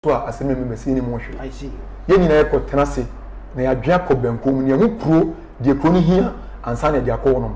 so a asɛm emu bɛsɛ yɛnnim ho hwee. Yɛn nyinaa yɛkɔtena ase na yɛadwene akɔ bɛnkɔn mu, nea ɛho kuro, deɛ kuro no hia ansa na yɛde akɔ hɔnom.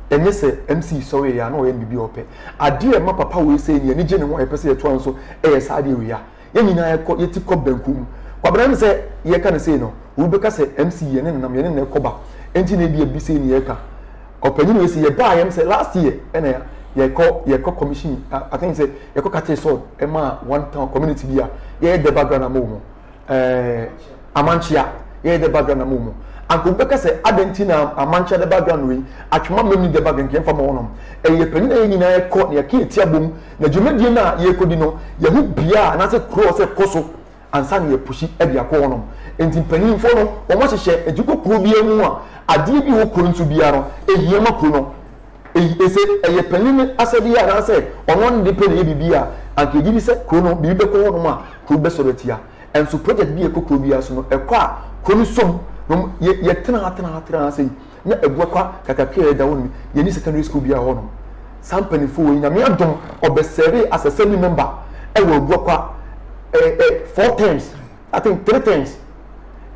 Ɛnyɛ sɛ MC sɔreeɛ a na ɔyɛ no biribi a ɔpɛ. Adeɛ a ɛma papa wei sɛi no, yɛn ani gye ne ho a yɛpɛ sɛ yɛtoa no so yɛ saa adeɛ wei a, yɛn nyinaa yɛkɔ, yɛti kɔ bɛnkɔn mu. Kwabena, ɛne sɛ yɛreka no sɛi no, obi bɛka sɛ MC yɛne no nam, yɛne no na ɛkɔba, enti na ebia bi sɛi na yɛreka. ɔpanyin wei sɛ yɛbaa yɛm sɛ last year ɛna ya yɛkɔ yɛkɔ commission i think sɛ yɛkɔ kate sɔɔ ɛma one town community bi a yɛyɛ dɛ background ama wɔn ɛɛ amankyea yɛyɛ dɛ background ama wɔn anka obi bɛka sɛ adan ti na amankyea dɛ background wei atwema mmam ni dɛ background kɛn fa ma wɔn ɛyɛ panyin a yɛ nyinaa yɛkɔ na yɛka yɛ ti abom na dwumadie no a yɛkɔdi no yɛho bia anaasɛ kuro a ɔsɛ kɔ so. ansa na yɛpusi de akɔ hɔnom. Enti mpanyimfo no, wɔhyehyɛ de kɔ kurow biara mu a adeɛ bi wɔ kurow no so biara no, ehia ma kurow no. Eyi sɛ ɛyɛ panyin no asɛdeɛ anaasɛ ɔno ara ne de pɛ na ɛyɛ biribi a, anka yɛgye di sɛ kurow no, biribi bɛkɔ hɔnom a kurow no bɛsɔre atia. Nanso projɛt bi a ɛkɔ kurow biara so no, ɛkɔ a kurow no som, na wɔyɛ, yɛtena ha, tena ha, tena ha sei. na agua kwa kakakra a ɛda hɔ no yɛnni secondary school biara wɔ hɔnom. Saa mpanimfoɔ wei, Nyame adom, wɔbɛsɛɛvee as assembly member wɔ agua kwa eh, eh, four terms, I think three terms.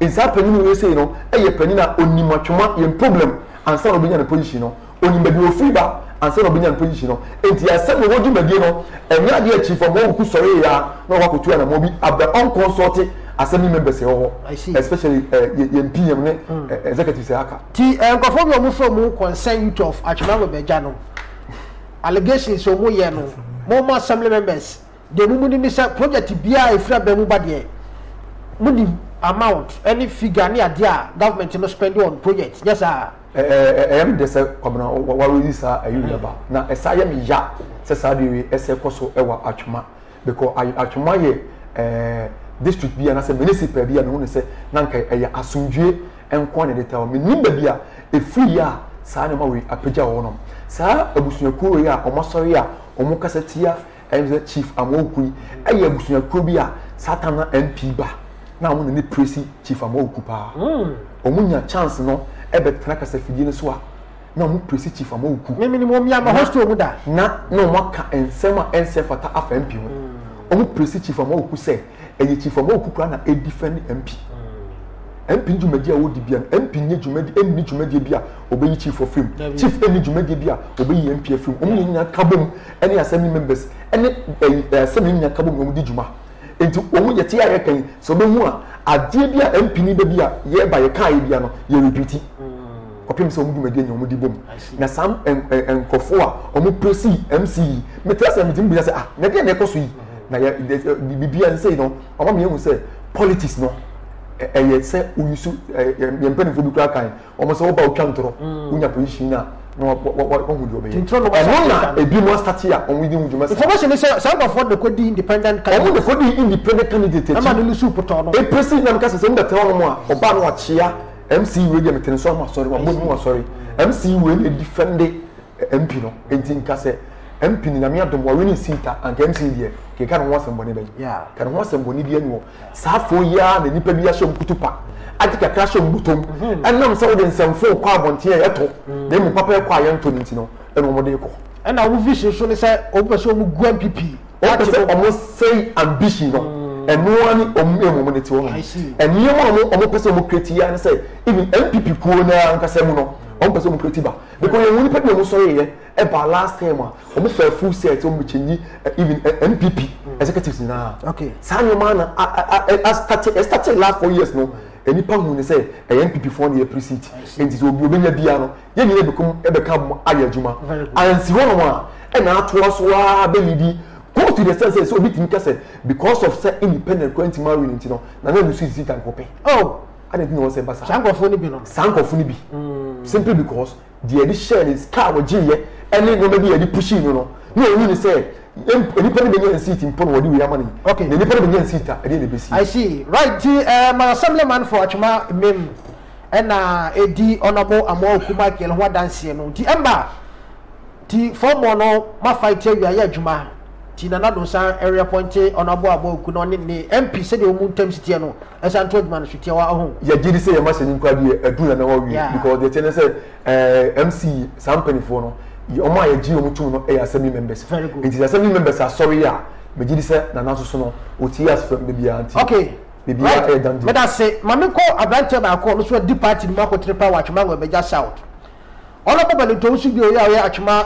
Nsaa panyin wei sei no yɛ panyin a onim atwoma yɛn problem ansa na obenya ne position no. Onim baabi a ofiri ba ansa na obenya ne position no. Enti asɛm na wɔdwumadie no, ɛnyɛ adeɛ a chief Amoawuku sɔree a na ɔwɔ akotu anamɔ bi abɛ ɔnkɔnsɔɔte assembly members ɛwɔ hɔ I see. especially eh, yɛ- yɛn pm ne eh, executives a aka ti eh, nkurɔfoɔ bi a wɔn fɛ mu concern youth of atwemam abɛgya no allegations a wɔn yɛ no mo mo assembly members deɛ mo mu nim ne sɛ project biara a efiri abɛn mu ba deɛ mo nim amount ɛne figure ne adeɛ a government no spend on project nyɛ saa Eh, eh, eh, ɛyɛ me dɛ sɛ kwabena wareyi saa ɛyɛ yaba na ɛsa yɛ me ya sɛ saa deɛ wei ɛsɛ kɔ so ɛwɔ atwema Mekɔ Atwemwa yɛ ɛɛ district bi anaasɛ municipal bi a mehu no sɛ na nka ɛyɛ asomdwie nko ara na ɛde taw. Mennim baabi a ɛfiri yɛ a saa nneɛma wei apagya wɔ hɔnom. Saa abusuakuo wei a wɔasɔre a wɔkasa tia ɛyɛ sɛ Chief Amoako yi yɛ abusuakuo bi a saa tam na MP ba na wɔn na ne presi Chief Amoako paa. Wɔnya chance no bɛtena kasafidie no so a na wɔn presi chief ama oku. mímini mu omi ama hostel mu da. na na wɔn aka nsɛm a ɛnsɛ fata afa mp ho wɔn mm. presi chief ama oku sɛ ɛyɛ chief ama oku koraa na edi fɛn ne mp mm. mp dwumadi a wɔdi bia no mp nye dwumadi ɛnni dwumadi bi a ɔbɛyi chief afiri mu chief ɛnni dwumadi bi a ɔbɛyi mp afiri mu wɔn nyinaa ka bom ɛne assembly members ɛne ɛɛ assembly nyinaa ka bom na wɔn di dwuma nti wɔn yɛ te a yɛ kan sɛ wɔbɛhu a adeɛ bi a mp ni bɛ bi a yɛreba yɛ kaa yɛ bi a no yɛ repeat. kɔpem sɛ ɔmo dwumadie nya ɔmo di bom na saa nkorɔfoɔ a ɔmo presi MC yi mete asɛ mete mu bi sɛ ah na deɛ na ɛkɔ so yi na yɛ bibi a nsɛyi no ɔma mi ehu sɛ politics no ɛyɛ sɛ oyi so yɛn mpanyinfoɔ bi kura kan ɔmo sɛ ɔba otwa ntorɔ onya position na na wahu deɛ ɔbɛyɛ ɛno na ebi mu asate a ɔmo di ho dwuma saa information sɛ saa nkorɔfoɔ de kɔ di independent candidate ɔmo de kɔ di independent candidate akyi ɛma ne nusu potɔ no epesi na mi ka sɛ sɛ mo bɛ tɛ ɔmo a ɔba no ɔkyea. mc wei deɛ metene so ama asɔre wabɔ ne mu asɔre mc wei na ɛdi fɛnde mp no ɛnti nka sɛ mp no nyame adom wawe ne nsiita anka mc deɛ keka ne ho asɛmbɔne bɛyi ka ne ho asɛmbɔne bi anuɔ saa fo yi ara na nnipa bi ahyɛ mkutu pa agye kakra hyɛ mbutom mhm. ɛnam sɛ wode nsɛmfo kɔ abɔnten a yɛtɔ mhm. na ɛmu papa ɛkɔ a yɛntɔ no nti no ɛna wɔde kɔ ɛna wo vision so ne sɛ wɔpɛ sɛ wɔmu gu mpp Wɔn pɛ sɛ wɔn sɛe ambition no. Ɛno ara ne wɔn aim wɔn de te hɔ nom. Nneɛma a wɔn wɔn pɛ sɛ wɔn create yi ara ne sɛ even NPP kuo no ara nkasa mu no wɔn pɛ sɛ wɔn create ba. Because yɛn wɔn nipa bi na wɔn sɔre yɛ ɛba last term a wɔn fa full set wɔn bɛ change even NPP eh, executives nyinaa. Okay. Saa nneɛma na a a a a start a start last four years no. Nipa hu ne sɛ ɛyɛ NPP foɔ na yɛ pre seat. Nti sɛ obi obi nya biara no yɛn nyinaa bɛkɔm ɛbɛka mo ayɛ adwuma ansi hɔnom a ɛna atoa so ara bɛlidi go to the sense sɛ obi tumi ka sɛ because of sɛ independent kora ntumi awi ne nti no na na nusu sisi tanko pɛ oh ade nti na wɔn sɛ basa saa nkɔfo no bi no saa nkɔfo no bi mm. simply because deɛ yɛde hyɛɛ ne car wɔgye yɛ ɛne nneɛma bi yɛde pushing no no na ohun ne sɛ nipa no bɛnya nsiiti mpo na wɔde wei ama ne okay na nipa no bɛnya nsiita ɛdeɛ na ebesi. i see right ti ɛɛ eh, ma assemblyman for atwuma mmem. na edi Honourable Amoah Oku Michael ho adanseɛ no nti ɛmma nti fɔmmɔ no ma fight awia yɛ adwuma nti Nana Addo san reappointe Honourable Amoah Oku na ɔne ne MP sɛdeɛ wɔn ntam si teɛ no ɛsan to adwuma no so tiawa ɔho. Yɛgye di sɛ yɛn mahyɛni nko adeɛ adu Nana hɔ awie yeah. because deɛ ɛteɛ ne sɛ eh, MC saa mpanimfoɔ no wɔn a yɛgye wɔn tom no yɛ assembly members nti assembly members asɔre a megye di sɛ Nana soso no ɔtie asefam da biara nti. Okay. biribi a ɛyɛ dan di. Meda se ma me kɔ abranteɛ baako a ɔno nso adi party no mu akɔtena paa wɔ Atwema Nwɛmɛgya South. Honourable Bɛnintɔ wo nso bio yɛ a woyɛ Atwema.